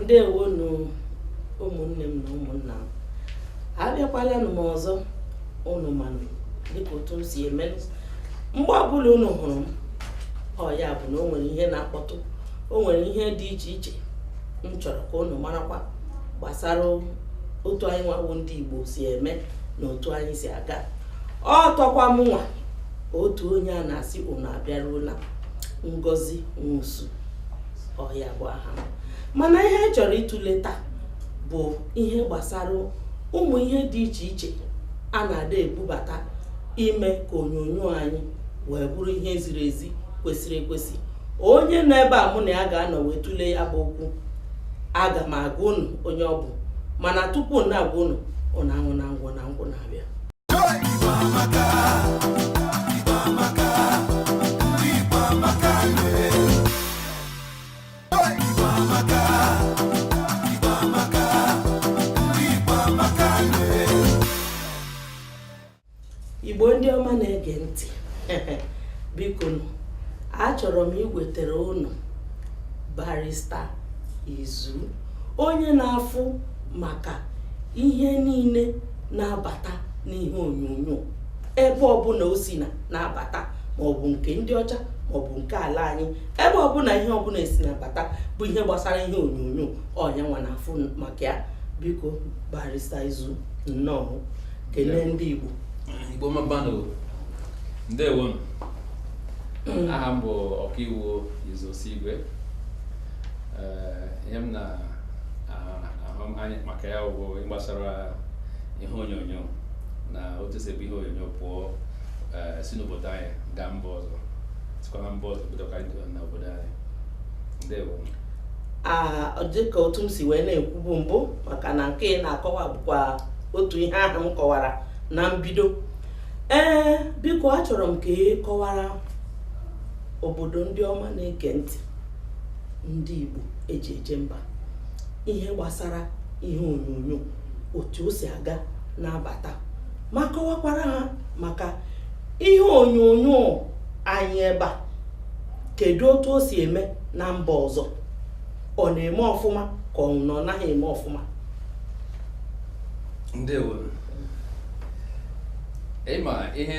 ndewonụ ụmụnne m na ụmụnna m abịakwalanụ m ọzọ ụnụ manụ dịka otu m si eme mgbe ọbụla ụnụ hụrụ m ọ ya bụ na o nwere ihe na-akpọtụ o nwere ihe dị iche iche m chọrọ ka ụnụ marakwa gbasara otu anyị nwa bụ ndị Igbo si eme na otu anyị si aga ọ tọkwa m nwa otu onye a na-asị ụnụ abịaruola Ngozi Nwosu ọ ya bụ aha m mana ihe a chọrọ ịtụle taa bụ ihe gbasara ụmụ ihe dị iche iche a na-adị ebubata ime ka onyonyo anyị wee bụrụ ihe ziri ezi kwesịrị ekwesị onye nọ ebe a mụ na ya ga-anọ wee tụlee ya bụ okwu aga m agwa unu onye ọ bụ mana tupu na-agwa unu ụnụ aṅụ na ngwụ na ngwụ na-abịa igbo ndị ọma na-ege ntị bikonụ achọrọ m iwetara unu barista izu onye na-afụ maka ihe niile na-abata n'ihe onyonyo ebe ọbụla o si na na-abata maọbụ nke ndị ọcha maọbụ nke ala anyị ebe ọbụla ihe ọbụla e si na-abata bụ ihe gbasara ihe onyonyo ọ nya nwa na-afụ maka ya biko barista izu nnọọ kelee ndị igbo igbo mmammanụ ndewo mm. aha m bụ ọkaiwu Izu Osuigwe eh, ihe m na-ahụ anya maka ya bụ gbasara ihe onyonyo na otu e si ebu ihe onyonyo pụọ eh, si n'obodo anyị gaa mba ọzọ sikwa na mba ọzọ bidokwa anyị na obodo anyị ndewo Ah, dịka otu m si wee na-ekwubu mbụ maka na nke ị na-akọwa bụkwa otu ihe ahụ m kọwara na mbido ee biko achọrọ m ka ị kọwara obodo ndị ọma na-ege ntị ndị Igbo e ji eje mba ihe gbasara ihe onyonyo otu o si aga na-abata ma kọwakwara ha maka ihe onyonyo anyị ebe a kedu otu o si eme na mba ọzọ ọ na-eme ọfụma ka ọ bụ na ọ naghị eme ọfụma ndewo ịma ihe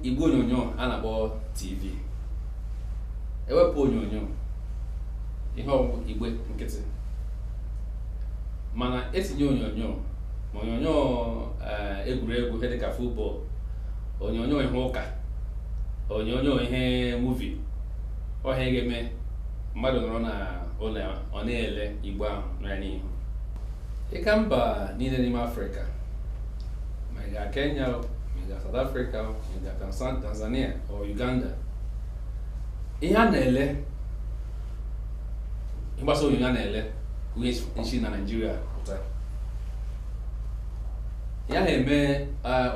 igwe onyonyo a na-akpọ tv e wepụ onyonyo ihe ọ bụ bụ igwe nkịtị mana etinye onyonyo ma onyonyo eh, egwuregwu ihe dịka futbọl onyonyo ihe ụka onyonyo ihe muvi ọ ihe ga-eme mmadụ nọrọ na ụlọ ya, ọ na-ele igbe ahụ nọ ya n'ihu ịga mba niile n'ime afrịka ma ị gaa kenya o, ma ị gaa south africa o, ma ị gaa Tanzan- tanzania o uganda ihe a na-ele ịgbasa onyonyo a na-ele onyonyo si na naijiria pụta ya na-eme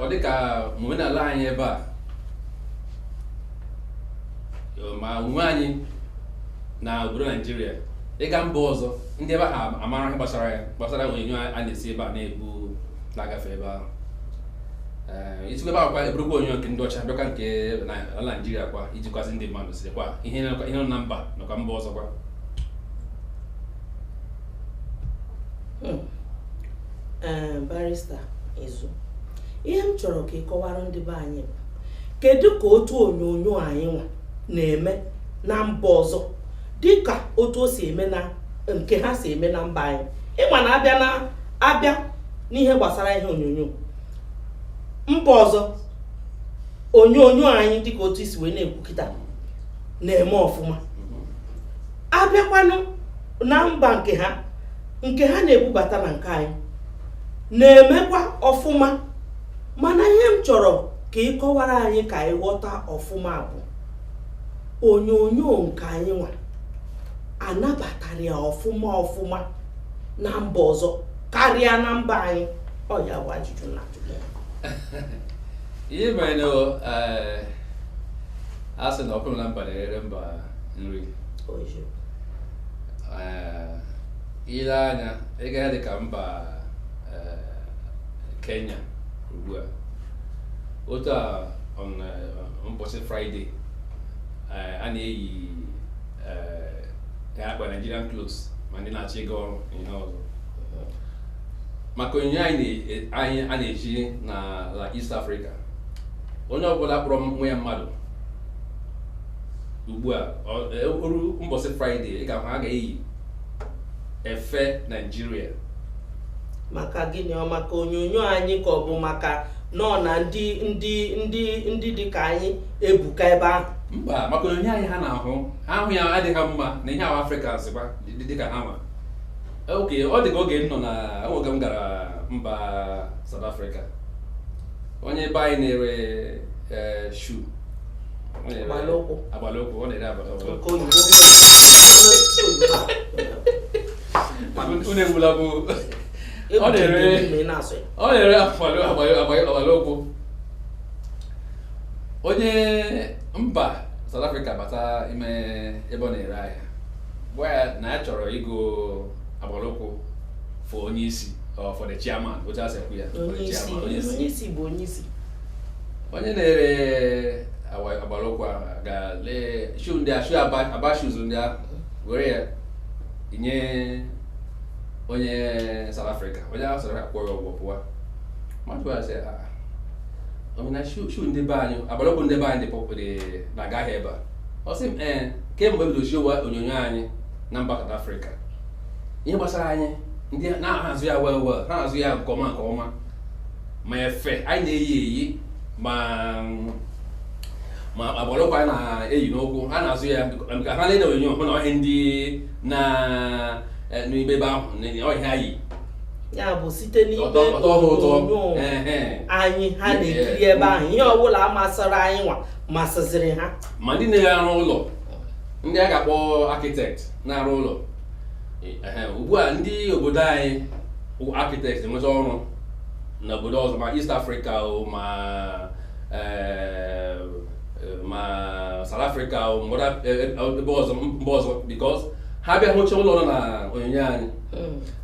ọ dịka ma omenala anyị ebe a ma onwe anyị na obodo naijiria ịga mba ọzọ ndị ebe ha amara ihe gbasara ya gbasara onyonyo a na-esi ebe a na-ebu na-agafe ebe ahụ isikwa ebe ahụ kwa eburukwa onyonyo nke ndị ọcha bịakwa nke ala naijiria kwa iji kwazi ndị mmadụ dịkwa ihe nọ na mba nakwa mba ọzọkwa hmm. eh, barista izu ihe m chọrọ ka ị kọwara ndị be anyị bụ kedu ka otu onyonyo anyị nwa na-eme na mba ọzọ dịka otu o si eme na nke ha si eme na mba anyị ịma na abịa na abịa n'ihe gbasara ihe onyonyo mba ọzọ onyonyo anyị dịka otu isi wee na-ekwu kịta na-eme ọfụma abịakwanụ na mba nke ha nke ha na-ebubata na nke anyị na-emekwa ọfụma mana ihe m chọrọ ka ị kọwara anyị ka anyị ghọta ọfụma bụ onyonyo nke anyị nwa anabatara ya ọfụma ọfụma na mba ọzọ karịa na mba anyị ọ ya bụ ajụjụ na ihe mere na eh, a sị na nkụ dị na mba na-eghere mba nri eh, ile anya ịga dị ka mba eh, kenya ugbu a otu a mbọsị fraịde a na-eyi akwa nigerian clothes ma ndị na-achọ ịga ọrụ ihe ọzọ maka onyonyo anyị na- anyị a na-eji na East Africa onye ọbụla kpọrọ onwe ya mmadụ ugbu a ọ- e- oru mbọsị fraịde ị ga-ahụ ha ga-eyi efe naijiria maka gịnị ọ maka onyonyo anyị ka ọ bụ maka nọ na ndị ndị ndị ndị dị ka anyị ebuka ebe ahụ mba maka onyonyo anyị ha na-ahụ ha ahụ ya adị ha mma na ihe a wụ afrịka zịkwa dị- dị- dịka ha ma ok ọ dị ka oge m nọ na oge m gara mba South Africa onye be anyị na-ere eh, shoe agbalụkwụ ọ na-ere agbalụkwụ unu egbula bụ ọ na-ere agbalụkwụ onye mba South Africa bata ime ebe ọ na-ere ahịa gwa ya na ya chọrọ ịgo agbalụkwụ for onye isi for the chairman otu e si ekwu ya onye na-ere agbalụkwụ agaa lee shoe ndị a shoe Aba shoes ndị a were ya nye onye South Africa onye ahụ South Africa kwụọ ya ụgwọ pụwa mmadụ a sị ah, ah. na shoe ndị be anyị agbalụkwụ ndị be anyị dị na-agaghị ebe a ọ sị m ee kemgbe e bido gosiwa onyonyo anyị na mba South Africa ihe gbasara anyị ha na-azụ ya well well ha na-azụ ya nke ọma nke ọma ma efe anyị na-eyi eyi ma ma agbalụkwụ anyị na-eyi n'ụkwụ ha na-azụ ya ka ha lee na onyonyo hụ na ọ ihe ndị na eh, n'ime ebe ahụ na ọ ihe ha yi ya bụ site n'ime Ọ tọ- ọ tọọ ha ụtọ. onyonyo Ehe. anyị ha na-ekiri ebe ahụ ihe ọbụla masịrị anyị nwa masịziri ha ma ndị na-arụ ụlọ ndị a ga-akpọ architect na-arụ ụlọ Ehe, ugbu a ndị obodo anyị bụ architect enweta ọrụ na obodo ọzọ ma East Africa o ma eh, ma South Africa o ma other- eh, eh, ebe ọzọ mba ọzọ because ha bịa hụcha ụlọ nọ na onyonyo anyị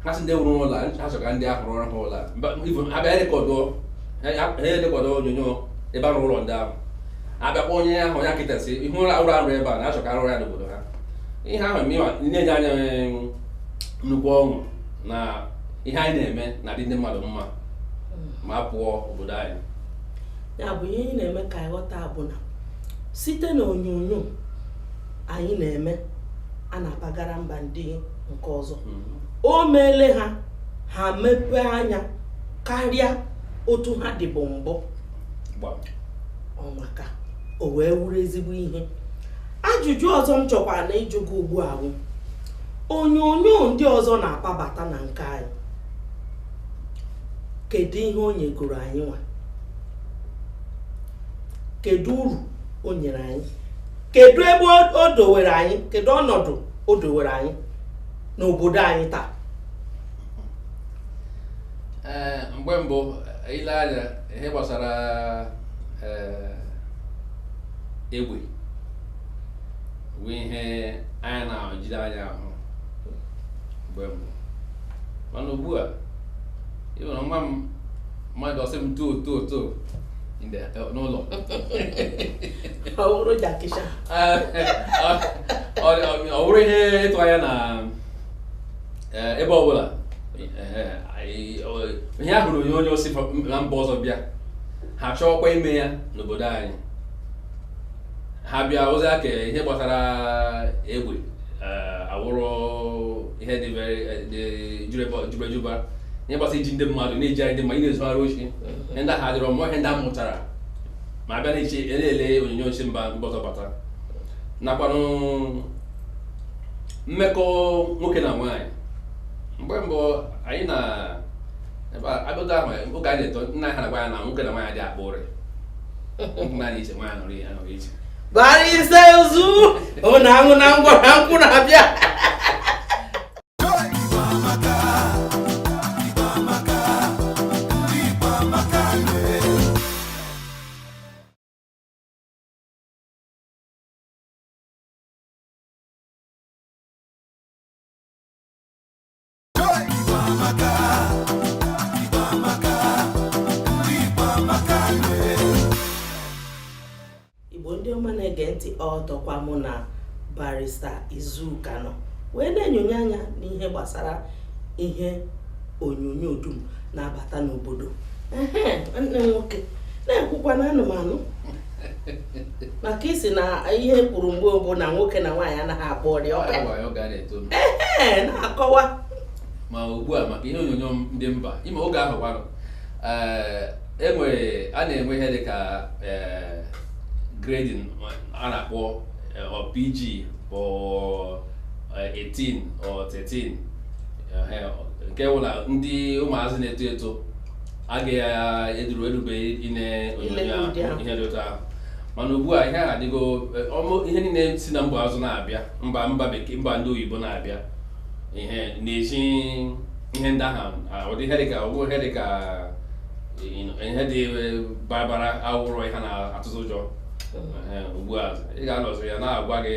ha sị ndị wuru ụlọ a, ha chọrọ ka ndị ahụ rụọrọ ha ụlọ a. Mba- even ha bịa rekọdụọ ha erekọdụọ onyonyo ebe a rụrụ ụlọ ndị ahụ abịakwa onye ahụ onye architect sị ị hụ ụlọ a rụrụ ebe a na-achọ ka a rụọ ya n'obodo ha ihe ahụ na-enye anyị nnukwu ọṅụ na ihe anyị na-eme na-adị ndị mmadụ mma ma a pụọ obodo anyị ya bụ ihe anyị na-eme ka anyị ghọta bụ na site na onyonyo anyị na-eme a na-abagara mba ndị nke ọzọ o meele ha ha mepee anya karịa otu ha dịbu mbụ ọ maka o wee wụrụ ezigbo ihe ajụjụ ọzọ m chọkwara na ịjụ gị ugbu a bụ onyonyo ndị ọzọ na-akpabata na nke anyị kedu ihe o nyegoro anyị nwa kedu uru o nyere anyị kedu ebe o dowere anyị kedu ọnọdụ o dowere anyị n'obodo anyị taa ee mgbe mbụ ile anya ihe gbasara ee egbe bụ ihe anyị na-ejide anya ahụ mgbe mbụ mana ugbu a ịhụrụ nwa m mmadụ ọ sị m too too too n'ụlọ ọ bụrụ jakịsha ọ bụrụ ihe ịtụ anya na eh, ebe ọbụla eh, ihe a hụrụ onyonyo si na mba ọzọ bịa ha chọọkwa ime ya n'obodo anyị ha bịa ozi aka ihe gbasara egbe eh, awụrụ ihe dị jubejuba ihe gbasara iji ndị mmadụ na-eji anyị ndị mmadụ na-ezugharị oshi ihe ndị ahụ adịrọ mbụ ihe ndị a mụtara ma a bịa na-eche ele onyonyo si mba mba ọzọ bata nakwanụ mmekọ nwoke na nwaanyị mgbe mbụ anyị na abịago ahụ oge anyị na-eto na ha na-agwa anyị na nwoke na nwaanyị adị akpa ụrị naanị iche nwaanyị nọrọ ya nọrọ iche barista izu ọ na-aṅụ na ngwa na nkwụ na-abịa igbo ndị ọma na-ege ntị ọtọkwa mụ na barista izu ka nọ wee na-enyonye anya n'ihe gbasara ihe onyonyo dum na-abata n'obodo nwanne nwoke na-ekwukwa na ana m anụ maka ị sị na ihe e kwuru mgbe mbụ na nwoke na nwaanyị anaghị akpa ụrị ee na-akọwa ma ugbu a maka ihe onyonyo ndị mba ime oge ahụ gwarụ e nwere e a na-enwe ihe dị ka e, grading a na-akpọ e, PG or 18 or 13 nke wụ na ndị ụmụazị na-eto eto a ga-eduru erubeghị ine onyonyo ihe dị otu ahụ mana ugbu a ihe a adịgo eh, ihe niile si na mba ọzọ na-abịa mba mba bekee mba ndị oyibo na-abịa ihe na-ezi ihe ndị ahụ ah, ụdị ihe dịka ọgwụ ihe dịka ihe dị eh, bara awụrụ ihe na-atụzi ụjọ hmm. eh, ugbu a ị ga-anọzi a na-agwa gị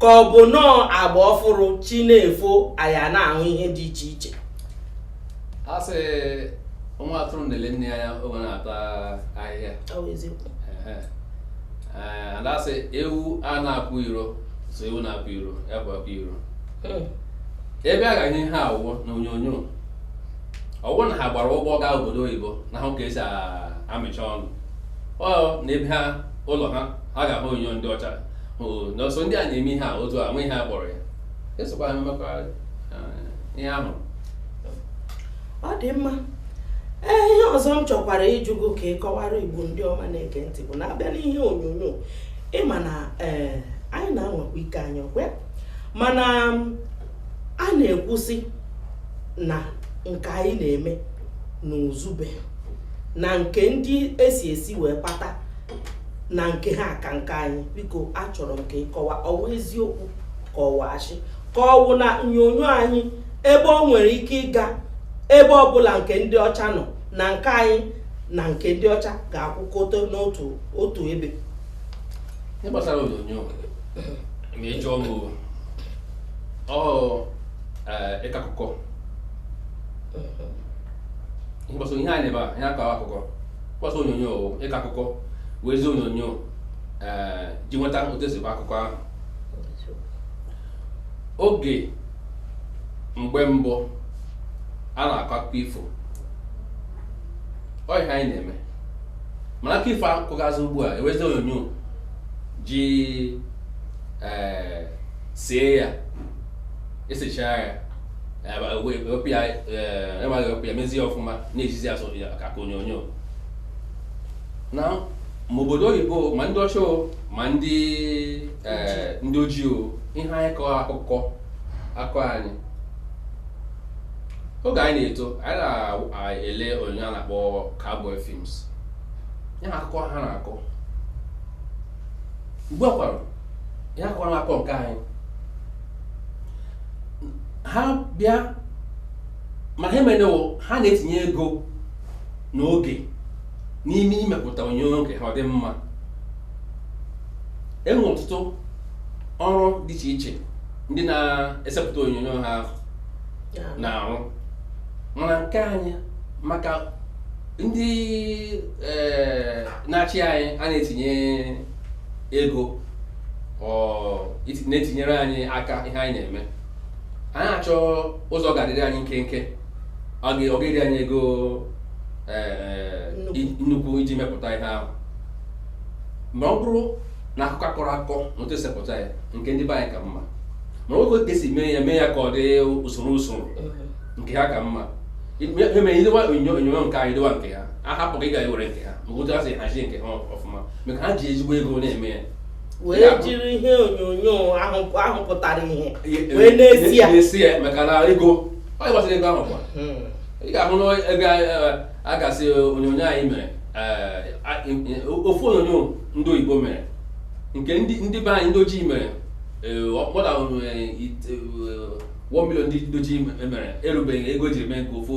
ka ọ bụ nọọ agba ọfụrụ chi na-efo anya na-ahụ ihe dị iche iche a sị nwa atụrụ na-ele nne ya oge ọ na-ata ahịhịa a da sị ewu a na-apụ iro so ewu na-apụ iro ya bụ apụ iro hmm. ebe a ga-enye ihe a wụ na onyonyo ọ wụ na ha gbara ụgbọ gaa obodo oyibo na-ahụ ka e si amịcha ọnụ ọ na ebe ha ụlọ ha ha ga-ahụ onyonyo ndị ọcha na ọ sọ ndị a na-eme ihe a otu a nwe ihe a kpọrọ ya esokwa ha mekwuo ihe ahụ ọ dị mma ee ihe ọzọ m chọkwara ịjụ gị ka ị kọwaara igbo ndị ọma na-ege ntị bụ na a bịa n'ihe onyonyo ị ma na ee anyị na-anwakwa ike anyị ọkwa mana a na-ekwusị na nke anyị na-eme na uzube na nke ndị esi esi wee kpata na nke ha ka nke anyị biko achọrọ m ka ị kọwaa ọ wụ eziokwu ka ọ wụ ashị ka ọ wụ na onyonyo anyị ebe o nwere ike ịga ebe ọbụla nke ndị ọcha nọ na nke anyị na nke ndị ọcha ga-akwụkọta n'otu otu ebe gbasara onyonyo ma ịjụ ọgụ ọ ịkọ akụkọ ihe a na-eme a ihe akọ akụkọ mkpọsa onyonyo ịkọ akụkọ wezi onyonyo eh, ji weta otu e si kọọ akụkọ ahụ oge mgbe mbụ a na-akọ akụkọ ifo ọ ihe anyị na-eme mana akụkọ ifo a kọgazi ugbu a e wezi onyonyo ji eh, see ya e sechaa ya emaghị wepụ ya mezie ọfụma na-ezizi ya ka onyonyo na ma obodo oyibo ma ndị ọcha ma ndị ndị ojii ihe anyị kọọ akụkọ akụkọ anyị oge anyị na-eto anyị na-ele onyonyo a na-akpọ cowboy films ihe akụkọ ha na-akọ ugbu a kwara ya kwara akọ nke anyị ha bịa mana ihe menụ wụ ha na-etinye ego na oge n'ime imepụta onyonyo nke ha ọ dị mma e nwe ọtụtụ ọrụ dị iche iche ndị na-esepụta onyonyo ha na-arụ mana nke anyị maka ndị ee eh, na-achị anyị anaghị etinye ego na-etinyere anyị aka ihe anyị na-eme anyị achọ ụzọ ga-adịrị anyị nkenke ọ ga-eri anyị ego e, e, nnukwu iji mepụta ihe ahụ ma ọ bụrụ na akụkọ a kọrọ akọ na otu e si epụta ya nke ndị be anyị ka mma ma nke otu e si mee ya mee ya ka ọ dị usoro usoro nke ha ka mma e dowe ihe onyonyo nke anyị dowe nke ha a hapụ nke gị ga were nke ha maka otu ha si hazie nke ha ọfụma maka ha ji ezigbo ego na-eme ya wee jiri ihe onyonyo ahụ pụtara ihe wee na-esi ya na-esi ya maka na ego ọ gbasara ego ahụ kwa hmm. ị ga-ahụ na ego eh, a ga-asị onyonyo anyị mere eh, ofu onyonyo ndị oyibo mere nke ndị be anyị ndị ojii mere ọkpọda eh, 1 million ndị ojii mere erubeghị ego e jiri mee nke ofu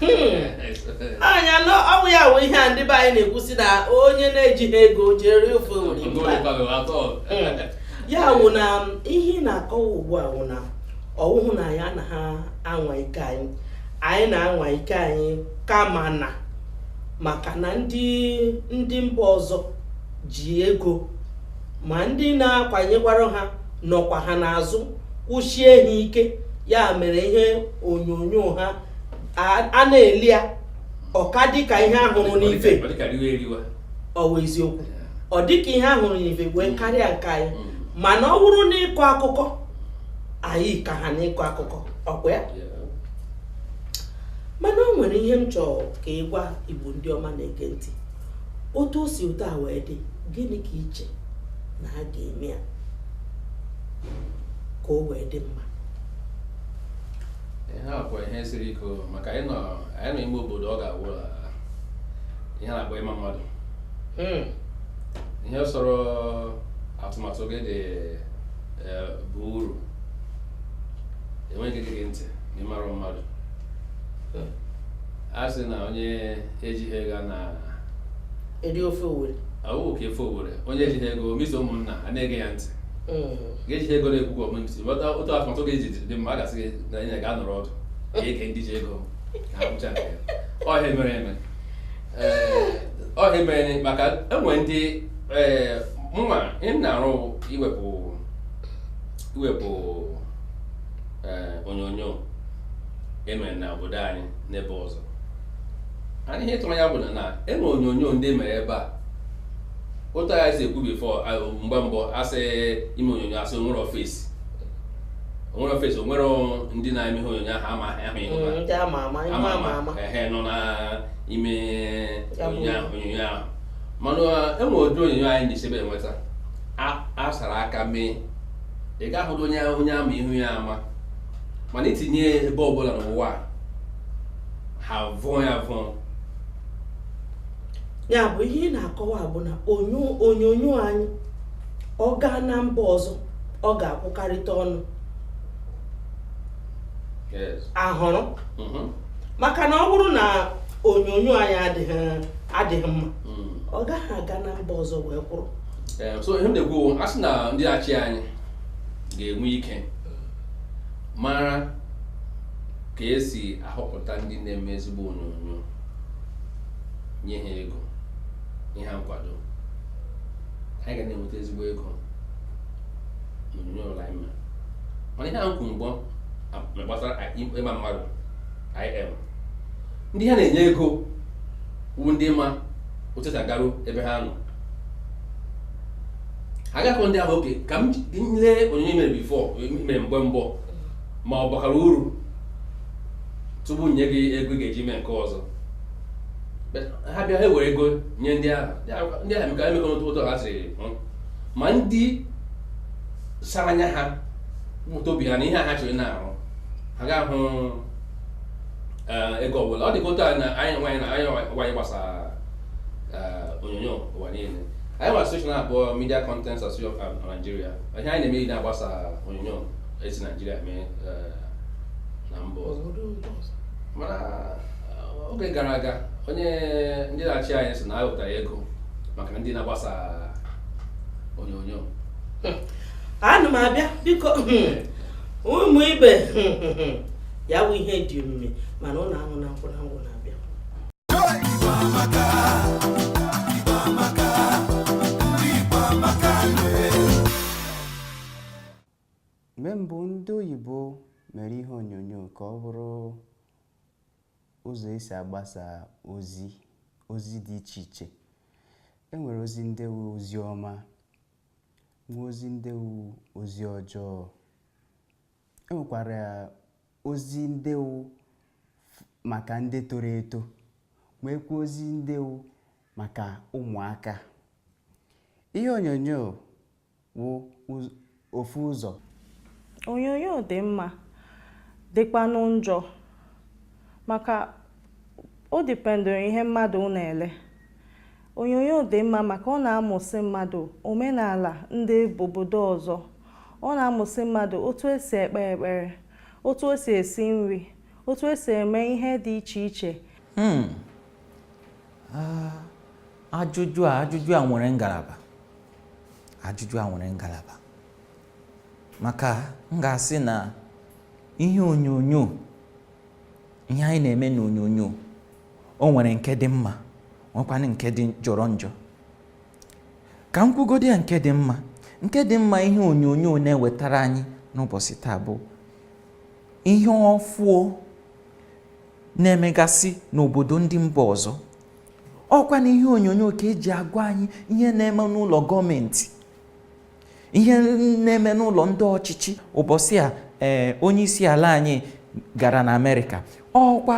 hmm. anya ọ wụ ya wụ ihe a ndị be anyị na-ekwusi na onye na-ejighị ego je eri ofe owere hmm. ya wụ na um, ihe ị na-akọwa ugbu a wụ na ọwụhụ na anyị anaghị anwa ike anyị anyị na-anwa ike anyị kama na maka na ndị ndị mba ọzọ ji ego ma ndị na-akwanyekwara ha nọkwa ha n'azụ kwụsie ha ike ya mere ihe onyonyo ha a na-ele ya ọ ka dịka ihe a hụrụ n'ife ọ bụ eziokwu ọ dịka ihe a hụrụ n'ife wee mm. karịa nke anyị mm. mana ọ bụrụ n'ịkọ akụkọ anyị ka ha n'ịkọ akụkọ ọ kwa ya mana o nwere ihe m chọrọ ka ị gwa igbo ndị ọma na-ege ntị otu o si otu a wee dị gịnị ka i che na a ga-eme ya ka o wee dị mma ihe a kwa ihe siri ike o, maka anyị nọ anyị nọ ime obodo ọ ga-awụ a, ihe a na-akpọ ịma mmadụ Mm. ihe sọrọ atụmatụ gị dị eh, bụ uru enweghị ike ige gị ntị na ịmara mmadụ Mm. a sị na onye ejighị ego na-eri ofe owere awụ ka ofe owere onye ejighị ego misa ụmụnna a na-ege ya ntị Mm. gị ejighị ego na-ekwu ka omemsi ghọta otu atụmatụ gị ji dị mma a ga-asị gị na anyị ga-anọrọ ọdụ ka e gee ndị ji ego na-ekwucha nke ya ọ ihe a mere eme ọ ihe a mere maka e nwere ndị ee mụnwa m na-arụ iwepụ iwepụ onyonyo e mere na obodo anyị n'ebe ọzọ anyị ihe tụrụ ya bụ na e nwere onyonyo ndị mere ebe a otu anyị si ekwu before mgbe mbụ asị ime onyonyo asị o nwere face o nwere face o nwere ndị na-eme ihe onyonyo ahụ amaghị ahụ ihe mm, ndị ama ama ama ama ehe nọ n'ime onyonyo ahụ onyonyo ahụ mana enwe ụdị onyonyo anyị na-esebe enweta a sara aka mee ị ga-ahụdụ onye onye ama ihu ya ama mana itinye ebe ọbụla n'ụwa ha vụọ ya vụọ ya bụ ihe ị na-akọwa bụ na onyonyo anyị ọ gaa na mba ọzọ ọ ga-akwụkarịta ọnụ ahụrụ mm-hmm. maka na ọ bụrụ na onyonyo anyị adịghị mma mm. ọ gaghị aga na mba ọzọ wee kwụrụ eh, so ihe m na-ekwu a sị na ndị achị anyị ga-enwe ike mara ka esi ahọpụta ndị na-eme ezigbo onyonyo nye ha ego nye ha nkwado anyị ga na-enweta ezigbo ego n'onyonyo ụlọ anyị ma mana ihe ahụ kwuru mbụ gbasara ịma mmadụ IM ndị ha na-enye ego wu ndị ma otu esi agaru ebe ha nọ ha gakọ ndị ahụ okay ka m lee onyonyo i mere before i mere mgbe mbụ ma ọ bakara uru tupu nye gị ego ị ga-eji mee nke ọzọ ha bịa ha were ego nye ndị ahụ ndị ahụ emeka emeka n'otu ụtọ ha siri ma ndị sara anya ha bute obi ha n'ihe ha chọrọ na-arụ ha agaghị ahụ ego ọbụla ọ dịka otu a na anyị nwaanyị na anyị nwaanyị gbasara onyonyo ụwa niile anyị nwere social na-abụọ media content association na naijiria ihe anyị na-eme na-agbasa onyonyo esi naijiria mee na mba ọzọ oge gara aga onye ndị na-achị anyị sị na ahụtara ego maka na ndị na-agbasa onyonyo anụ m abịa biko ụmụ ibe ya bụ ihe dị omimi mana unu ahụ na nkwụ na ngwụ na-abịa mgbe mbụ ndị oyibo mere ihe onyonyo ka ọ bụrụ ụzọ̀ e sì àgbasà ozi ozi dị ichè ichè e nwèrè ozi ndị wụ ozi ọma nwee ozi ndị wụ ozi ọjọọ e nwèkwàrà ozi ndị wụ màkà ndị toro eto nweekwa ozi ndị wụ màkà ụmụ̀akā ihe ònyònyo wụ ofu ụzọ onyonyo dị mma dịkwanụ njọ maka o depend ihe mmadụ na-ele onyonyo dị mma maka ọ na-amụsị mmadụ omenala ndị obodo ọzọ ọ na-amụsị mmadụ otu esi ekpe ekpere otu esi esi nri otu esi eme ihe dị iche iche hmm. ah, ajụjụ a ajụjụ a nwere ngalaba ajụjụ a nwere ngalaba maka m ga-asị na ihe onyonyo ihe anyị na-eme n'onyonyo o nwere nke dị mma nwekwana nke dị jọrọ njọ ka m kwugodi ya nke dị mma nke dị mma ihe onyonyo na-ewetara anyị n'ụbọsị taa bụ ihe ọfụọ na-emegasị n'obodo ndị mba ọzọ ọkwa n'ihe onyonyo ka eji agwa anyị ihe na-eme n'ụlọ gọọmenti ihe na-eme n'ụlọ ndị ọchịchị ụbọsị a ee eh, onye isi ala anyị gara na amerịka ọkwa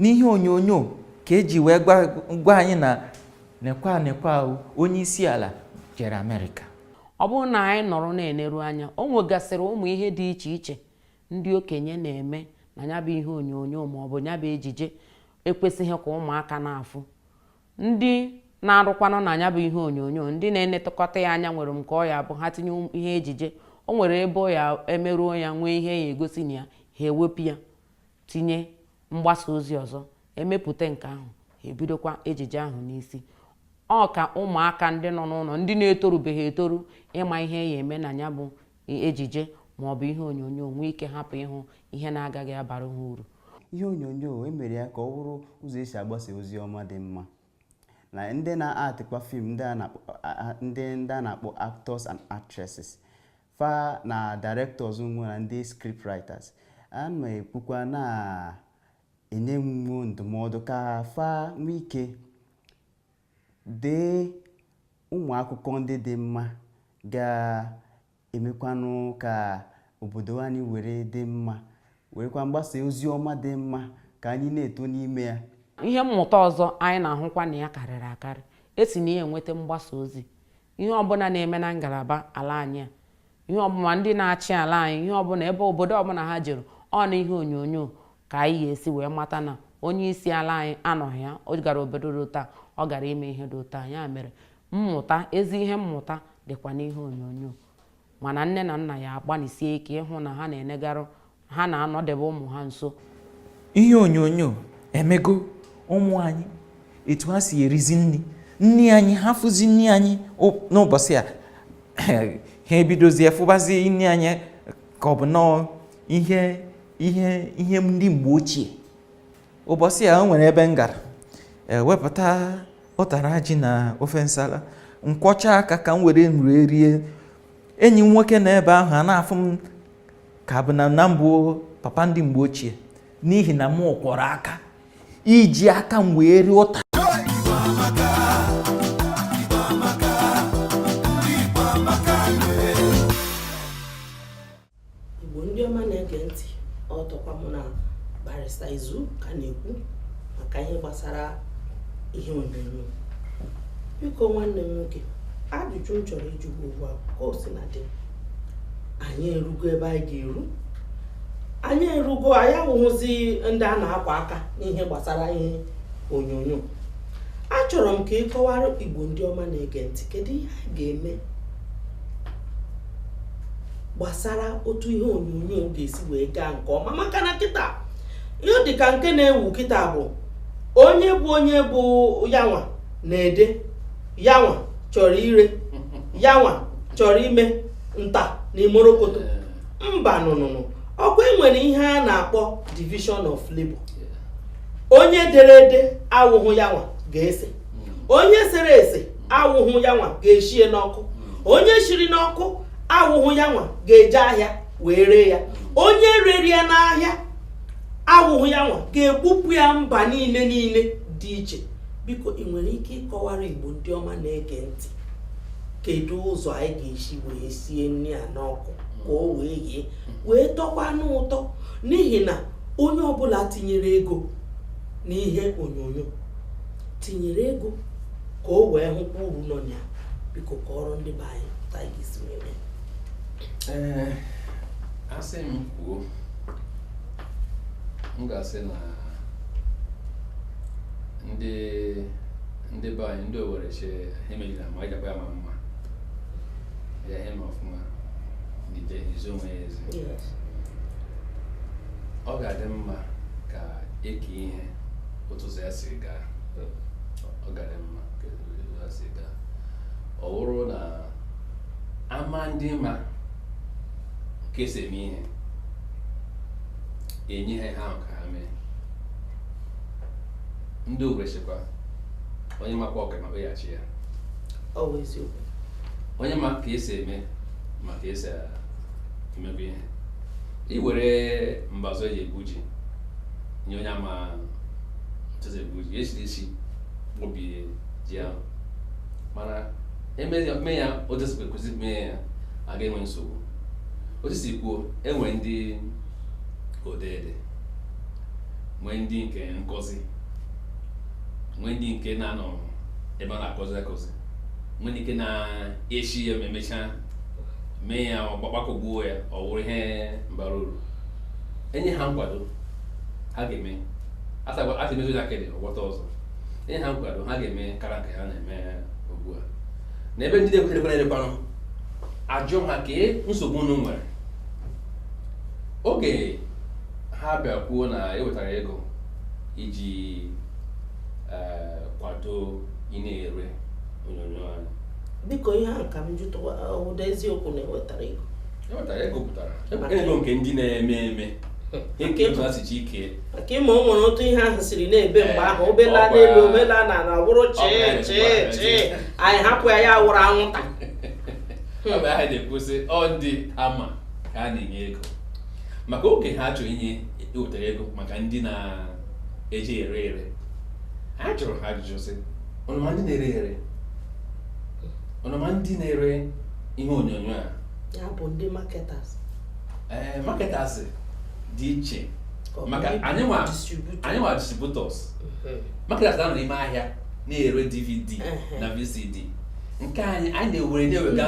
n'ihe onyonyo ka eji wee gwa anyị na nekwa nekwa onye isi ala jere amerịka ọ bụrụ na anyị nọrọ na-eneru anya o nwegasịrị ụmụ ihe dị iche iche ndị okenye na-eme na nya bụ ihe onyonyo ma ọ bụ nya bụ ejije ekwesịghị ka ụmụaka na-afụ ndị na-arụkwanụ na nya bụ ihe onyonyo ndị na-enetụkọta ya anya nwere nke ọ ya-abụ ha tinye ihe ejije o nwere ebe ọ ya-emeru ọ ya nwee ihe ya egosi na ya ha ewepụ ya tinye mgbasa ozi ọzọ emepụta nke ahụ ha ebidokwa ejije ahụ n'isi ọ ka ụmụaka ndị nọ n'ụnọ ndị na-etorubeghị etoru ịma ihe ya eme na nya bụ ejije ma ọ bụ ihe onyonyo nwee ike hapụ ịhụ ihe na-agaghị abara ha uru ihe onyonyo emere ya ka ọ bụrụ ụzọ esi agbasa ozi ọma dị mma na ndị na-actkwa film ndị ndị a na-akpọ actors and actresses fa na directors nwe na ndị script writers a na-ekwukwa na-enye nwo ndụmọdụ ka fa nwee ike Dee ụmụ akụkọ ndị dị mma ga-emekwanụ ka obodo anyị were dị mma, werekwa na-agbasa ozi ọma dị mma ka anyị na-eto n'ime ya. Ihe mmụta ọzọ anyị na-ahụkwa na ya karịrị akarị e si na ya enweta mgbasa ozi. Ihe ọbụna na-eme na ngalaba ala anyị a ihe ọbụna ndị na-achị ala anyị ihe ọbụna ebe obodo ọbụna ha jere ọ n'ihe onyonyo ka anyị ga-esi wee mata na onye isi ala anyị anọghị ya ọ gara obodo dị otu a ọ gara ime ihe dị otu a nya mere mmụta ezi ihe mmụta dịkwa n'ihe onyonyo mana nne na nna ya agbalịsie ike ịhụ na ha na-enegarụ ha na-anọdebe ụmụ ha nso ihe onyonyo emego ụmụ anyị etu ha si erizi nri nri anyị ha fụzi nri anyị n'ụbọchị a ha ebidozie fụbazi nri anyị ka ọ bụ nọọ ihe ihe ihe ndị mgbe ochie ụbọchị a o nwere ebe m gara e wepụta ụtara ji na ofe nsala m kwọchaa aka ka m were nri rie enyi m nwoke na ebe ahụ a na-afụ m ka bụ na na m bụ papa ndị mgbe ochie n'ihi na m kwọrọ aka iji aka m wee rie ụta Igbo ndị ọma na-ege ntị ọtọkwa mụ na barista izu ka na-ekwu maka ihe gbasara ihe onyonyo biko nwanne m nwoke ajụjụ m chọrọ ịjụ gị ugbu a ka o sina dị anyị erugo ebe anyị ga-eru anyị erugo anyị awụhụzi ndị a na-akwa aka n'ihe gbasara ihe onyonyo achọrọ m ka ị kọwara igbo ndị ọma na-ege ntị kedu ihe anyị ga-eme gbasara otu ihe onyonyo ga-esi wee gaa nke ọma maka na kịta ihe dị ka nke na-ewu kịta bụ onye bụ onye bụ yanwa na-ede yanwa chọrọ ire yanwa chọrọ ime nta na imorokoto mba nụnụnụ ọ kwa e nwere ihe a na-akpọ division of labor onye dere ede awụhụ yanwa ga-ese onye sere ese awụhụ ya nwa ga-eshie n'ọkụ onye shiri n'ọkụ awụhụ ya nwa ga-eje ahịa wee ree ya onye rere ya n'ahịa awụhụ ya nwa ga-ebupụ ya mba niile niile dị iche biko ị nwere ike ịkọwara igbo ndị ọma na-ege ntị kedu ụzọ anyị ga-esi wee sie nri a n'ọkụ ka o wee ghee wee tọkwanụ ụtọ n'ihi na onye ọbụla tinyere ego n'ihe onyonyo tinyere ego ka o wee hụkwa uru nọ na ya biko kọọrọ ndị be anyị otu a ga-esi mee ee a sị m kwuo m ga-asị na ndị ndị be anyị ndị owere che ha emejila ma anyị jakwa ya ma mma ya ihe ma ọfụma n'ije izo onwe ya ezi ọ ga-adị mma ka e kee ihe otu ụzọ ya si gaa ọ gara mma ka otu ya si gaa ọ wụrụ na ama ndị ma ka esi eme ihe enye ha ihe ahụ ka ha mee ndị ogresikwa onye makwa ọka ma kpeghachi ya ọ bụ eziokwu onye ma ka esi eme ma ka esi emebe ihe i were mbazụ eji egwu ji nye onye ama otu esi egwu ji echiri isi gbubie ji ahụ mana eme ya mee ya otu esi kwekụzi mee ya aga enwe nsogbu otu i si kwuo enwe ndị odeede nwee ndị nke nkuzi nwee ndị nke na-anọ ebe a na-akụzi akụzi nwee ndị nke na-echi ya ma emechaa mee ya ọgbakọgbuo ya ọ wụrụ ihe bara uru enye ha nkwado ha ga-eme asị mezo ya kedị ọgbọta ọzọ enye ha nkwado ha ga-eme kara nke ha na-eme ugbu a na ebe ndị na-ekwerekwere elekwanụ ajụ ha kee nsogbu unu nwere oge ha bịa kwuo na ewetara ego iji eh, kwado ndị na-ere onyonyo anyị biko ihe a ka m jụtụwa ụda eziokwu na ewetara ego nke ịma o nwere otu ihe ahụ siri na-ebe mgbe ahụ o bela n'elu o bela n'ala ọ bụrụ chee chee chee anyị hapụ ya ya wụrụ anwụnta ọ bụ aha na-ekwu sị ọ ndị ama ka a na-enye ego maka oge ha chọrọ inye wetara ego maka ndị na-eji ere ere ha jụrụ ha ajụjụ sị unu ma ndị na-ere ere unu ma ndị na-ere ihe onyonyo a ya bụ ndị marketers ee eh, marketers dị iche maka anyị nwa distributors mm-hmm. marketers na-anọ n'ime ahịa na-ere dvd na vcd nke anyị anyị na-ewere na-ewega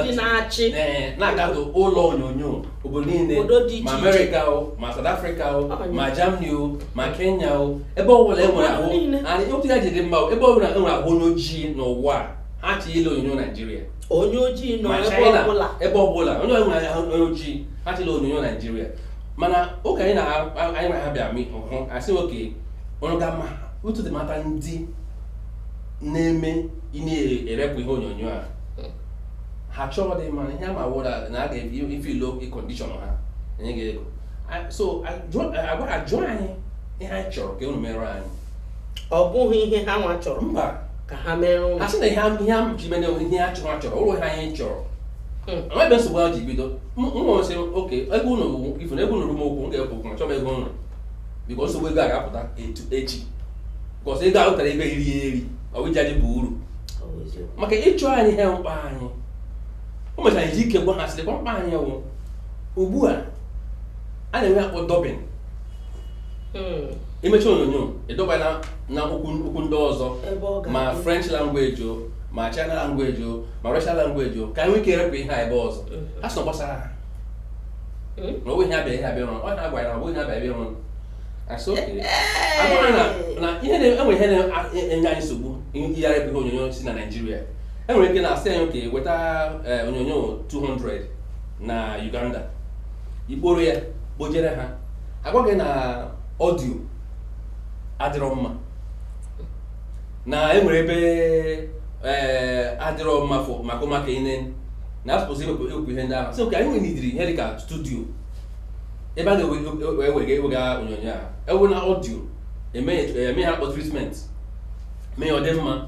eh, na-agazu ụlọ onyonyo obodo niile ma amerịka o ma South Africa o ma Germany o ma Kenya o ebe ọbụla enwere ahụ anyị otu ya jiri mma ebe ọbụla enwere ahụ onye ojii n'ụwa ha ji ele onyonyo Naijiria onye ojii nọ ebe ọbụla onye nwere onye ojii ha ji ele onyonyo naijiria mana oge anyị na ha bịa meet ha sị okay ọrụ ga mma otu dị mata ndị na-eme ndị na-erepụ ihe onyonyo a ha chọọ dị mma ihe ama wụra na a ga-efe ilo condition ha enye gị ego so a gaa jụọ anyị ihe anyị chọrọ ka unu mere anyị ọ bụghị ihe ha nwa chọrọ mba ka ha mere ụlọ asị na ihe am- ihe am ji mene ihe ha chọrọ achọrọ ụlọ ha ihe chọrọ Hmm. amaghị nsogbu ha ji bido nwa sị oke ebe ụlọ ugwu ifu na ebe ụlọ rum okwu m ga-ekwu okwu ma chọba ego ụlọ biko nsogbu ego a ga-apụta etu echi because ego ahụ tara ego eri ya eri ọ bụ iji anyị bụ uru Ọ bụ eziokwu. maka ịchụ anyị ha mkpa anyị o mechara iji ike gwa ha sịrị kwa mkpa anyị wụ ugbu a a na-enwe akpọ dubbing hmm. imechaa onyonyo ị dub ya na na okwu ndị ọzọ ma french language o ma china language o ma russian language o ka anyị nwee ike irepụ ihe a ebe ọzọ hmm. ha sị ọ gbasara ha hmm? na ọbụghị abịa ihe abịa rụrụ ọnya agwa ya na ọbụghị ihe abịa abịa rụrụ na ihe enwe ihe na-enye anyị nsogbu iyigharị bụ ihe onyonyo si na naijiria enwere ike na-asị anyị okay weta eh, onyonyo 200 na uganda ikporo ya kpojere ha agwa gị na audio adịrọ mma na enwere ebe eh, adịrọ mma for maka ụmụaka ịne na a suppose iwepụ ihe ndị ahụ sị ka anyị nwere ụdịrị ihe dịka studio ebe a ga-ewega ewega onyonyo a ewe na audio eme ya- eme ihe a kpọ treatment mee ya ọ dị mma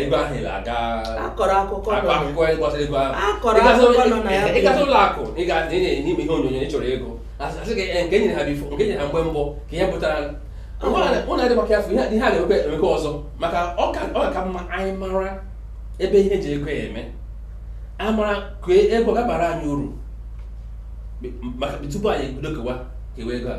ego ahụ ị ga-aga akọrọ akụkọ akọ akụkọ anyị gbasara ego ahụ akọrọ akụkọ nọ na ya ị gasị ụlọ akụ ị ga ị na-enye ime ihe onyonyo ị chọrọ ego asị gị nke nyere ha before nke nyere ha mgbe mbụ ka ihe pụtara ụlọ adị maka afọ ihe a ga-emekwa emekwa ọzọ maka ọ ga-aka mma anyị mara ebe ihe ji ego ya eme amara ka ego ga-abara anyị uru maka tupu anyị ebido kewa kewa ego a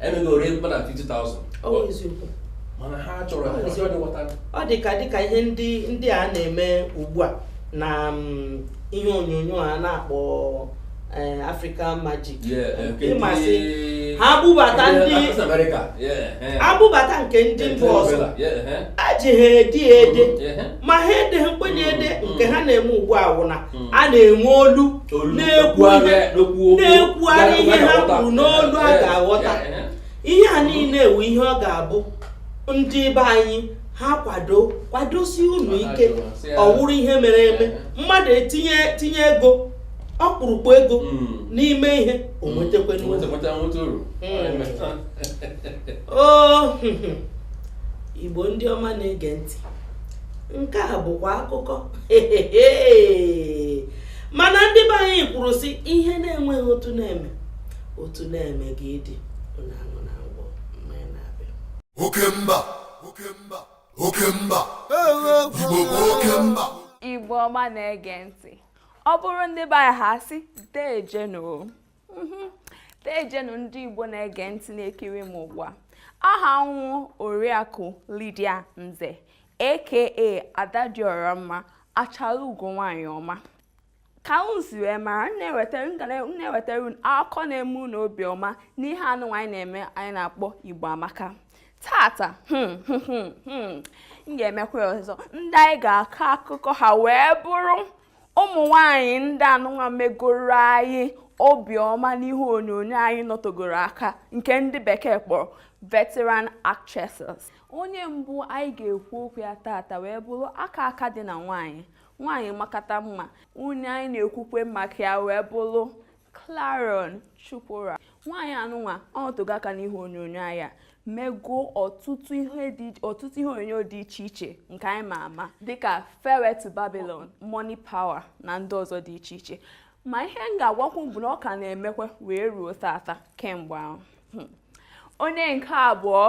emeghị ori mkpa na 50,000 Ọ bụ eziokwu. mana ha chọrọ Ọ bụ eziokwu. ọdị wọta ọ dị ka dịka ihe ndị ndị a na-eme ugbu a na mm, ihe onyonyo a na-akpọ eh, African Magic ị ma sị ha bubata ndị America ebubata nke ndị mba ọzọ ejighị edi ede ma ha edeghị nkwenye ede nke ha na-eme ugbu a wụ na hmm. a na-enwe olu na-ekwugharị ihe ha kwuru n'olu a ga-aghọta ihe a niile wụ ihe ọ ga-abụ ndị be anyị ha kwado kwadosi unu ike ọ wụrụ ihe mere eme mmadụ etinye tinye ego ọkpụrụkpụ ego hmm. n'ime ihe o hmm. nwetakwa hmm. igbo ndị ọma na-ege ntị nke a bụkwa akụkọ mana ndị be anyị kwuru sị ihe na-enweghị otu a na-eme otu a na-eme ya dị oke mba oke mba oke mba igbo bụ oke mba igbo ọma na-ege ntị ọ bụrụ ndị be anyị ha sị deeje nụ deejenụ mhm. ndị Igbo na-ege ntị na-ekiri m ugbu a aha m wụ oriakụ Lydia Nze aka Ada Diọra Mma achara ugo nwaanyị ọma ka unu si wee mara m na-ewetara unu akụkọ na-eme unu obiọma n'ihe anụnwa anyị na-eme anyị na-akpọ Igbo Amaka tata hmm, hmm, hmm, m ga-emekwa ọzọ ndị anyị ga-akọ akụkọ ha wee bụrụ ụmụ nwanyị ndị anụnwa megoro anyị obiọma n'ihe onyonyo anyị nọtogoro aka nke ndị bekee kpọrọ veteran actresses onye mbụ anyị ga-ekwu okwu ya tata wee bụrụ aka aka dị na nwanyị nwanyị makata mma onye anyị na-ekwukwe maka ya wee bụrụ Clarion Chukwura nwaanyị anụnwa o tego aka n'ihe onyonyo anyị mego ọtụtụ ihe dị ọtụtụ ihe onyonyo dị iche iche nke anyị ma ama dịka Farewell to Babylon, Money Power na ndị ọzọ dị iche iche ma ihe m ga-agwakwu bụ na ọ ka na-emekwa wee ruo tata kemgbe ahụ hmm. onye nke abụọ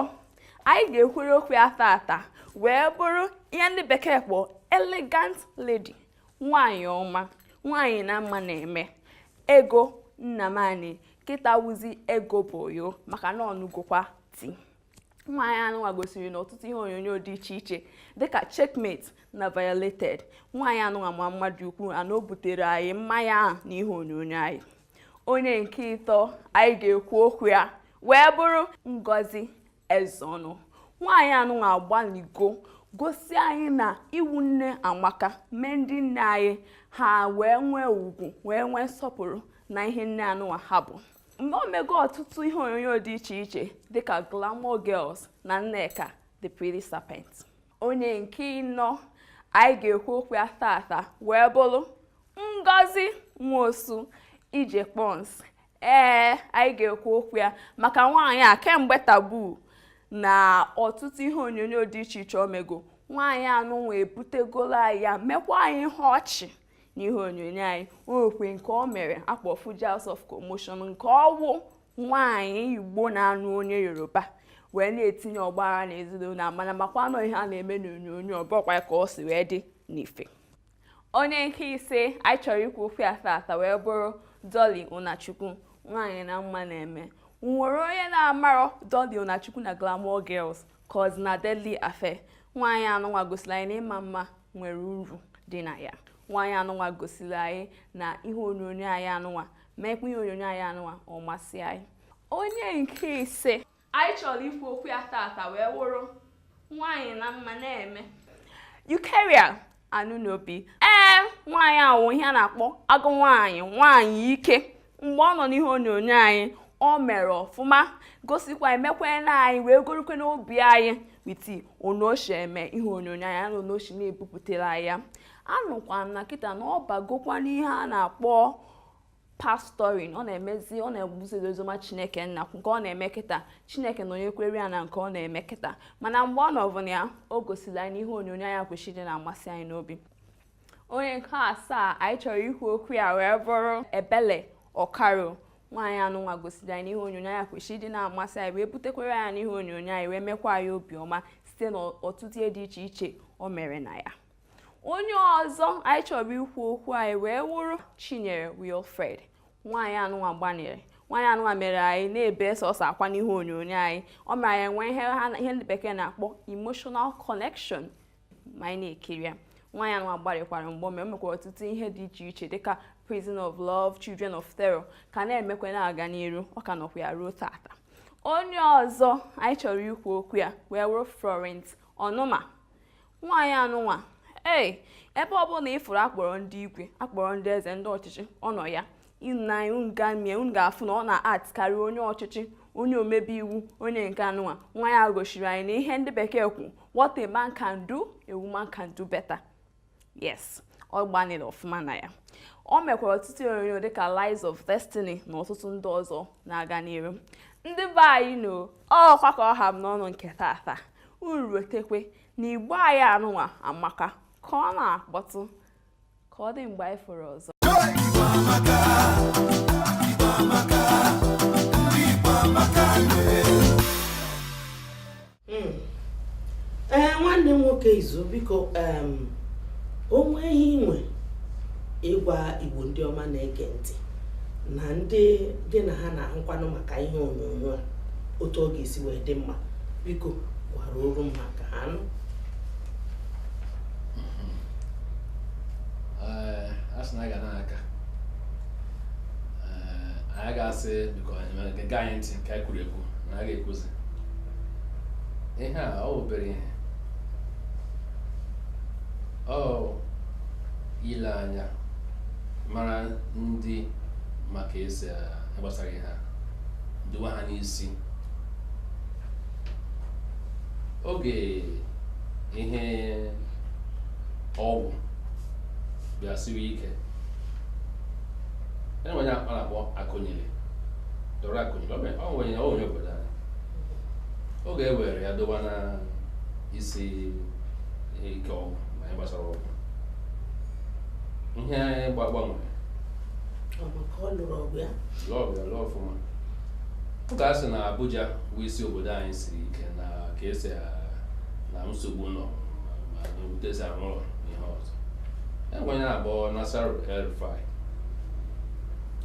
anyị ga-ekwuru okwu ya tata wee bụrụ ihe ndị bekee kpọọ elegant lady nwaanyị ọma nwaanyị na mma na-eme Ego Nnamani kịta wụzi Ego Boyo maka na ọ nụgokwa di nwaanyị anụnwa gosiri n'ọtụtụ ihe onyonyo dị iche iche dịka Checkmate na Violated nwaanyị anụnwa ma mma dị ukwuu ana o butere anyị mma ya ahụ na ihe onyonyo anyị onye nke ịtọ anyị ga-ekwu okwu ya wee bụrụ Ngozi Ezeonu nwaanyị anụnwa agbaligo gosi anyị na ịwụ nne amaka mee ndị nne anyị ha wee nwee ugwu wee nwee nsọpụrụ na ihe nne anụnwa ha bụ nne o mego ọtụtụ ihe onyonyo dị iche iche dịka Glamour Girls na Nneka The Pretty Serpent onye nke ịnọ anyị ga-ekwu okwu ya tata wee bụrụ Ngozi Nwosu Ije Pons ee anyị ga-ekwu okwu ya maka nwaanyị a kemgbe Taboo na ọtụtụ ihe onyonyo dị iche iche o mego nwaanyị anụnwa ebutegolo anyị ya mekwa anyị ihe ọchị n'ihe onyonyo anyị o nwekwa nke o mere a kpọ Fuji House of Commotion nke ọ wụ nwaanyị Igbo na-anụ onye Yoruba wee na-etinye ọgbaghara na ezinụlọ a mana makwa na ọ ihe a na-eme n'onyonyo ọ bụrọkwa ka o si wee dị n'ife onye nke ise anyị chọrọ ikwu okwu ya tata wee bụrụ Dolly Unachukwu nwaanyị na mma na-eme o nwere onye na-amarọ Dolly Unachukwu na Glamour Girls ka ọ na Deadly Affair nwaanyị anụnwa gosiri anyị na ịma mma nwere uru dị na ya nwaanyị anụnwa gosiri anyị na ihe onyonyo anyị anụnwa meekwa ihe onyonyo anyị anụnwa ọ masị anyị onye nke ise Anyị chọrọ ikwu okwu ya tata wee wụrụ nwaanyị na mma na-eme. Eucharia Anunobi. Ee, nwaanyị a wụ ihe a na-akpọ agụ nwaanyị nwaanyị ike mgbe ọ nọ n'ihe onyonyo anyị o mere ọfụma gosikwa mekwe na anyị wee gorukwe n'obi anyị with onoshi eme ihe onyonyo ya na onoshi na-ebupụtara ya anụkwa m na kịta na ọ bagokwa n'ihe a na-akpọ pastoring ọ na-emezi ọ na-ebuziri oziọma chineke nna nke ọ na-eme kịta chineke nọnyekwere ya na nke ọ na-eme kịta mana mgbe ọ nọbụ na ya o gosiri anyị n'ihe onyonyo ya kwesịrị ịdị na-amasị anyị n'obi onye nke asaa anyị chọrọ ikwu okwu ya wee bụrụ Ebele Okaro nwaanyị anụnwa gosiri anyị n'ihe onyonyo ya kwesịrị ịdị na-amasị anyị wee butekwere ya n'ihe onyonyo anyị wee mekwa anyị obiọma site n'ọtụtụ ihe dị iche iche o mere na ya onye ọzọ anyị chọrọ ikwu okwu ya wee wụrụ Chinyere Wilfred nwaanyị anụnwa gbanịrị nwaanyị anụnwa mere anyị na-ebe sọsọ akwa n'ihu onyonyo anyị o mere anyị nwee ihe ha ihe ndị bekee na-akpọ emotional connection ma anyị na-ekiri ya nwaanyị anụnwa gbanịkwara mgbe ome o mekwara ọtụtụ ihe dị iche iche dịka prison of love children of terror ka na-emekwa na-aga n'iru ọ ka nọkwa ya ruo tata onye ọzọ anyị chọrọ ikwu okwu ya wee wụrụ Florence Ọnụma nwaanyị anụnwa ee ebe ọ bụla ị fụrụ a kpọrọ ndị igwe a kpọrọ ndị eze ndị ọchịchị ọ nọ ya ịnanya unu gamie unu ga-afụ na ọ na-act karịa onye ọchịchị onye omebe iwu onye nke anụnwa nwa ya gosiri anyị na ihe ndị bekee kwu what a man can do a woman can do better yes ọ gbanịrị ọfụma na ya o mekwara ọtụtụ onyonyo dịka Lies of Destiny na ọtụtụ ndị ọzọ na-aga n'iru ndị be anyị na ọkwa ka ọ ha m n'ọnụ nke tata unu rotekwe na igbo anyị anụnwa amaka ka ọ na-akpọtụ ka ọ dị mgbe anyị fụrụ ọzọ hmm. ee eh, nwanne m nwoke Izu biko o nwe ihe i nwe ịgwa igbo ndị ọma na-ege ntị na ndị gị na ha na-ahụkwanụ maka ihe onyonyo a otu ọ ga-esi wee dị mma biko gwara oru m maka na a sị na aga na-aka anyị ga-asị biko nke anyị ntị nke anyị kwuru ekwu na a ga-ekwuzi ihe a ọ bụ obere ihe ọ ile anya mara ndị maka esi gbasara ihe a dowa ha n'isi oge ihe ọgwụ bịa siwe ike enwe onye akpa na-akpọ Akunyili Dora Akunyili ọ wụ onye obodo anyị oge e were ya dowa na isi ike ọgwụ ma ihe gbasara ọgwụ ihe gba gbanwere Ọ bụ ka ọ lụrụ ọlụ ya lụọ ya lụọ ọfụma ọ ka a sị na abuja bụ isi obodo anyị siri ike na ka esi a- na nsogbu nọ ma- ma na otu esi arụ ụlọ na ihe ọzọ enwere onye a na-akpọ Nasir El-Rufai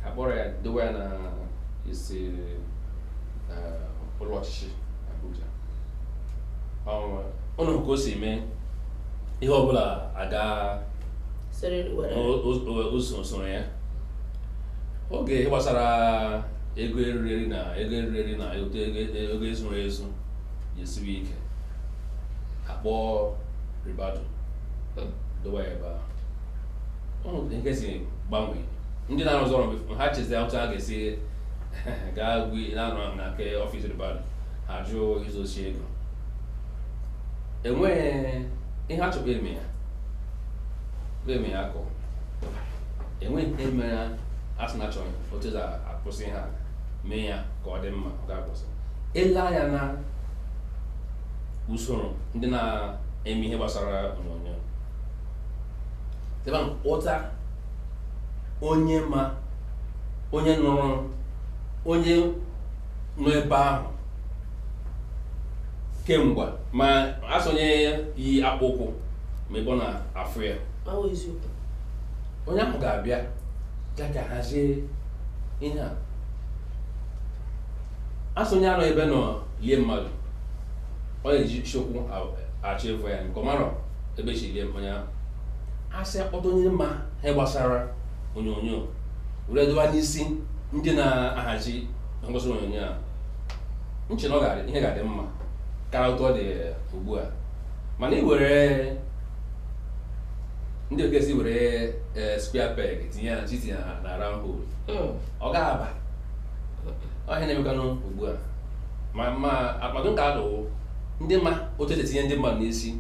a kpọrọ ya dowe ya na isi eh, ụlọ ọchịchị abuja Ọ- ụnụ hụ ka o si mee ihe ọbụla aga soro ya oge ihe gbasara ego eriri na ego eriri na otu ego ezuru ezu ga-esiwe ike a kpọọ Ribadu dowa ya ebe ahụ nke si gbanwee ndị na-arụzi ọrụ ha chezi otu a ga-esi gaa gwi na-anọ na nke ọfịs Ribadu ha jụọ izuzi ego enweghị ihe a chọkwa eme ya na-eme ya akọ enweghị nke mere a sị na achọrọ otu esi akwụsị ha mee ya ka ọ dị mma ọ ga-akwụsị i lee anya na usoro ndị na-eme ihe gbasara onyonyo ụta onye ma onye nụrụ onye nọ ebe ahụ kemgbe ma a sị onye yi akpụ ụkwụ ma ebe ọ na-afụ ya onye ahụ ga-abịa bịa ka hazie ihe a a sị onye anọ ebe a nọ lie mmadụ ọ na-esi ụkwụ achọ ịvọ ya maka ọ marọ ebe e si lie onye ahụ a sị a kpọta onye ma ihe gbasara onyonyo were dowa n'isi ndị na-ahazi ngosi onyonyo a m chee na ihe ga-adị mma karịa otu ọ dị ugbu a mana ị were ndị ọ ka a sị iwere e, square peg tinye ya tinye ya na round hole hmm. ọ ga-aba ọ ihe na-emekwanụ ugbu a ma ma akpado ka adụwụ ndị ma otu esi etinye ndị mmadụ n'isi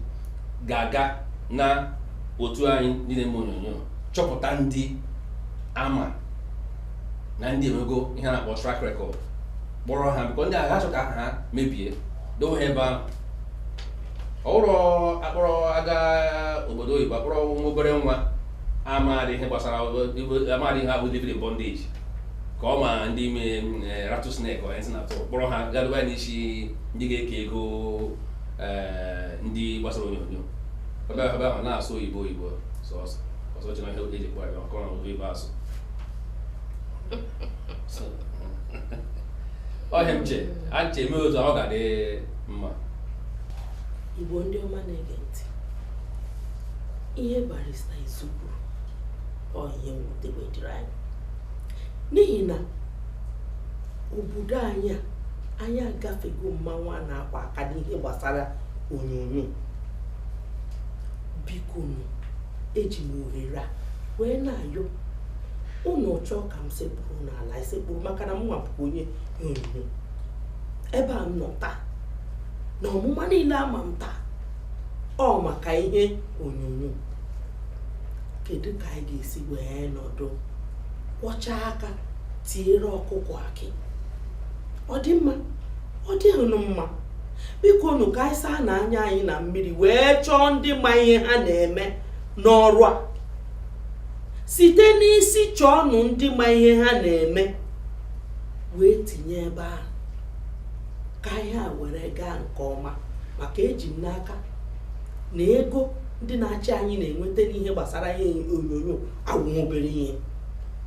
ga-aga na otu anyị ndị na-eme onyonyo chọpụta ndị ama na ndị emego ihe a na-akpọ track record kpọrọ ha because ndị agaghị achọ ka ha mebie dowe ha ebe ahụ ọ wụrọ a kpọrọ a gaa obodo oyibo kpọrọ nwa obere nwa amaghị ihe gbasara amaghị ihe bụ living in bondage ka ọ ma ndị mere eh, rattlesnake onye si na-atụ kpọrọ ha gaa doba ya n'isi ndị ga-eke ego eh, ndị gbasara onyonyo ebe ahụ na-asụ oyibo oyibo sọsọ ọsọ ọchị na ihe oge jikwa ya ọkọ na oge ibe asụ ọhịa m che ache eme otu ọ ga-adị mma igbo ndị ọma na-ege ntị ihe barista izu kwuru ọ ihe mwute wee dịrị anyị n'ihi na obodo anyị a anyị agafego mmanwụ a na-akwa aka n'ihe gbasara onyonyo biko nụ eji m ohere a wee na-ayọ ụnụ chọọ ka m sekpuru n'ala esekpuru maka na mụnwa bụkwa onye ihe onyonyo ebe a m nọ taa na ọmụma niile a ma m taa ọ maka ihe onyonyo kedu ka anyị ga-esi wee nọdụ kwọcha aka tiere ọkụkọ akị ọ dị mma ọ dị ụnụ mma biko nụ ka anyị saa na anya anyị na mmiri wee chọọ ndị ma ihe ha na-eme n'ọrụ a site n'isi chọọnụ ndị ma ihe ha na-eme wee tinye ebe ahụ ka ihe a were gaa nke ọma maka eji m n'aka na ego ndị na-achị anyị na-enweta n'ihe gbasara ihe onyonyo awụghị obere ihe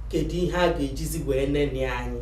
kedu ihe a ga-ejizi wee neni anyị